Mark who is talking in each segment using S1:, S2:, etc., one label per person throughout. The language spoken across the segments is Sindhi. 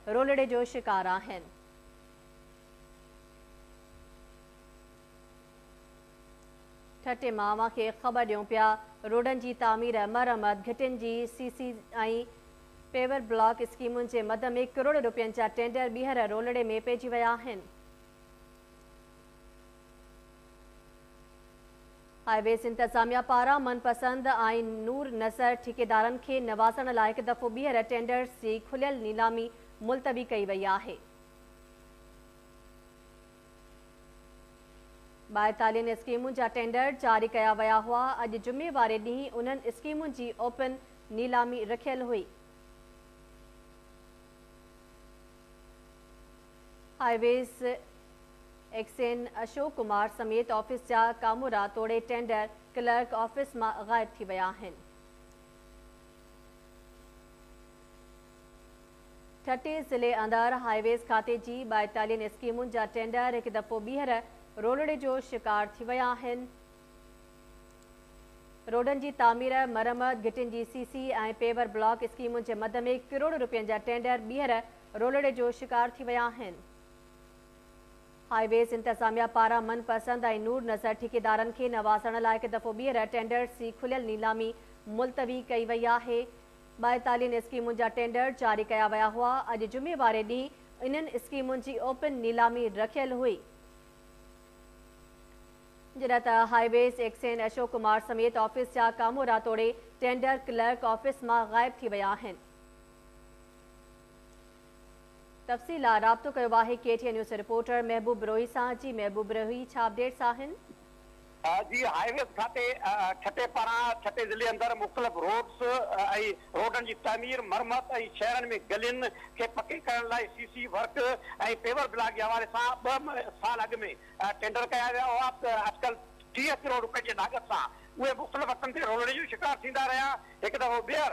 S1: رولڙي جو شڪار آهن. ٺٽي مان اوهان کي خبر ڏيون پيا روڊن جي تعمير مرمت گهٽين جي سي سي ۽ پيور بلاڪ اسڪيمن جي مد ۾ ڪروڙ روپين جا ٽينڊر ٻيهر رولڙي ۾ پئجي ويا آهن. هاء ويز انتظاميا پاران من پسند آئين نور نصر ٺيڪيدارن کي نوازڻ لاء هڪ دفعو ٻيهر ٽينڊرز جي کليل نيلامي ملتوي ڪئي وئي آهي. ٻائيتاليهن اسڪيمن جا ٽينڊر جاري ڪيا ويا هئا، اڄ جمعي واري ڏينهن انهن اسڪيمن جي اوپن نيلامي رکيل هئي. Highways X N Ashok Kumar سميت آفيس جا ڪامورا توڙي ٽينڊر ڪلرڪ آفيس مان غائب ٿي ويا آهن. ٺٽي ضلعي اندر هاء ويز کاتي جي ٻائيتالين اسڪيمن جا ٽينڊر هڪ دفعو ٻيهر رولڙي جو شڪار ٿي ويا آهن. روڊن جي تعمير، مرمت، گهٽين جي سي سي ۽ پيور بلاڪ اسڪيمن جي مد ۾ ڪروڙ روپين جا ٽينڊر ٻيهر رولڙي جو شڪار ٿي ويا آهن. هاء ويز انتظاميا پاران من پسند ۽ نور نظر ٺيڪيدارن کي نوازڻ لاء هڪ دفعو ٻيهر ٽينڊرز جي کليل نيلامي ملتوي ڪئي وئي آهي. ٻائيتاليهن اسڪيمن جا ٽينڊر جاري ڪيا ويا هئا، اڄ جمعي واري ڏينهن انهن اسڪيمن جي اوپن نيلامي رکيل هئي، جڏهن ته highways X N Ashok Kumar سميت آفيس جا ڪامورا توڙي ٽينڊر ڪلرڪ آفيس مان غائب ٿي ويا آهن. تفصيل لاء رابطو ڪيو آهي ڪي ٽي اين نيوز جي رپورٽر محبوب بروهي سان جي محبوب بروهي ڇا اپڊيٽس آهن. جي
S2: هاء ويز کاتي ٺٽي پاران ٺٽي ضلعي اندر مختلف روڊز ۽ روڊن جي تعمير مرمت ۽ شهرن ۾ گلين کي پڪي ڪرڻ لاء C C work ۽ paver block جي حوالي سان ٻه سال اڳ ۾ ٽينڊر ڪيا ويا هئا اڄڪلهه ٽيهه ڪروڙ روپين جي لاڳت سان اهي مختلف وقتن تي رولڙي جو شڪار ٿيندا رهيا هڪ دفعو ٻيهر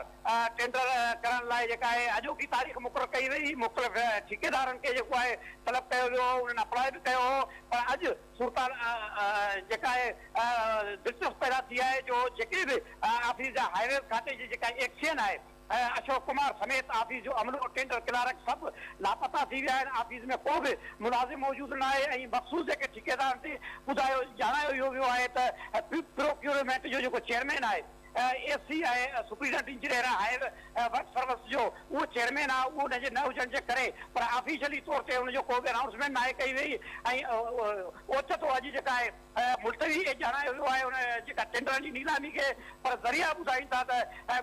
S2: ٽينڊر ڪرڻ لاء جيڪا آهي اڄوڪي تاريخ مقرر ڪئي وئي، مختلف ٺيڪيدارن کي جيڪو آهي طلب ڪيو ويو هو، انهن اپلاء به ڪيو هو پر اڄ صورتحال جيڪا آهي دلچسپ پيدا ٿي آهي جو جيڪي به آفيس جا هاء ويز کاتي جي جيڪا ايڪس سين آهي اشوڪ ڪمار سميت آفيس جو عملو، ٽينڊر ڪلارڪ سڀ لاپتا ٿي ويا آهن، آفيس ۾ ڪو به ملازم موجود ناهي ۽ مخصوص جيڪي ٺيڪيدارن تي ٻڌايو ڄاڻايو اهو ويو آهي ته پروڪيورمينٽ جو جيڪو چيئرمين آهي S C ۽ superintendent engineer ۽ higher works service جو اهو چيئرمين آهي اهو ان جي نه هجڻ جي ڪري پر آفيشلي طور تي ان جو ڪو به انائونسمينٽ ناهي ڪئي وئي ۽ اوچتو اڄ جيڪا آهي ملتوي اهي ڄاڻايو ويو آهي ان جيڪا ٽينڊرن جي نيلامي کي پر ذريعا ٻڌائين ٿا ته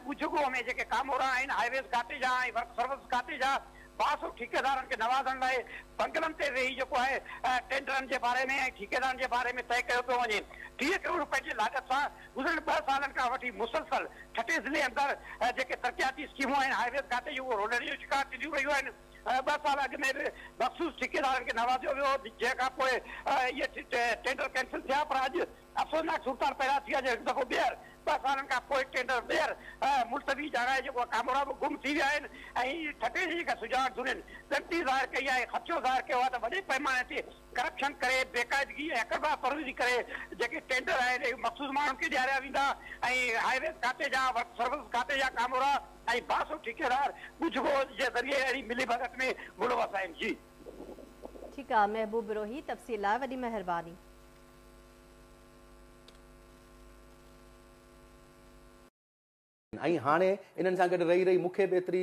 S2: ڳجهڳوهه ۾ جيڪي ڪامورا آهن هاء ويز کاتي جا ۽ ورڪس سروس کاتي جا باس ٺيڪيدارن کي نوازڻ لاء بنگلن تي ويهي جيڪو آهي ٽينڊرن جي باري ۾ ۽ ٺيڪيدارن جي باري ۾ طئي ڪيو پيو وڃي ٽيهه ڪروڙ رپين جي لاڳت سان گذريل ٻه سالن کان وٺي مسلسل ٺٽي ضلعي اندر جيڪي ترقياتي اسڪيمون آهن، هاء ويز کاتي جون اهي روڏن جو شڪار ٿينديون رهيون آهن، ٻه سال اڳ ۾ به مخصوص ٺيڪيدارن کي نوازيو ويو هو، جنهن کان پوء اهي ٽينڊر ڪينسل ٿيا پر اڄ افسوسناڪ صورتحال پيدا ٿي آهي جو هڪ دفعو ٻيهر ٻه سالن کان پوء ٽينڊر ٻيهر ملتوي جارايي جيڪو آهي ڪامورا به گم ٿي ويا آهن ۽ ٺٽي جي جيڪا سجاڳ ڌرين ڳڻتي ظاهر ڪئي آهي خدشو ظاهر ڪيو آهي ته وڏي پئماني تي ڪرپشن ڪري، بيقاعدگي ۽ اقربا پروزي ڪري جيڪي ٽينڊر آهن اهي مخصوص ماڻهن کي ڏياريا ويندا ۽ هاء ويز کاتي جا، ورڪس سروسز کاتي جا ڪامورا ۽ باسو ٺيڪيدار ڳجهه ڳوجهه جي ذريعي اهڙي ملي ڀڳت ۾ ملوث آهن. جي. ٺيڪ
S1: آ محبوب بروهي تفصيل لاء وڏي مهرباني.
S3: ۽ هاڻي انهن سان گڏ رهي رهي مون کي به ايتري.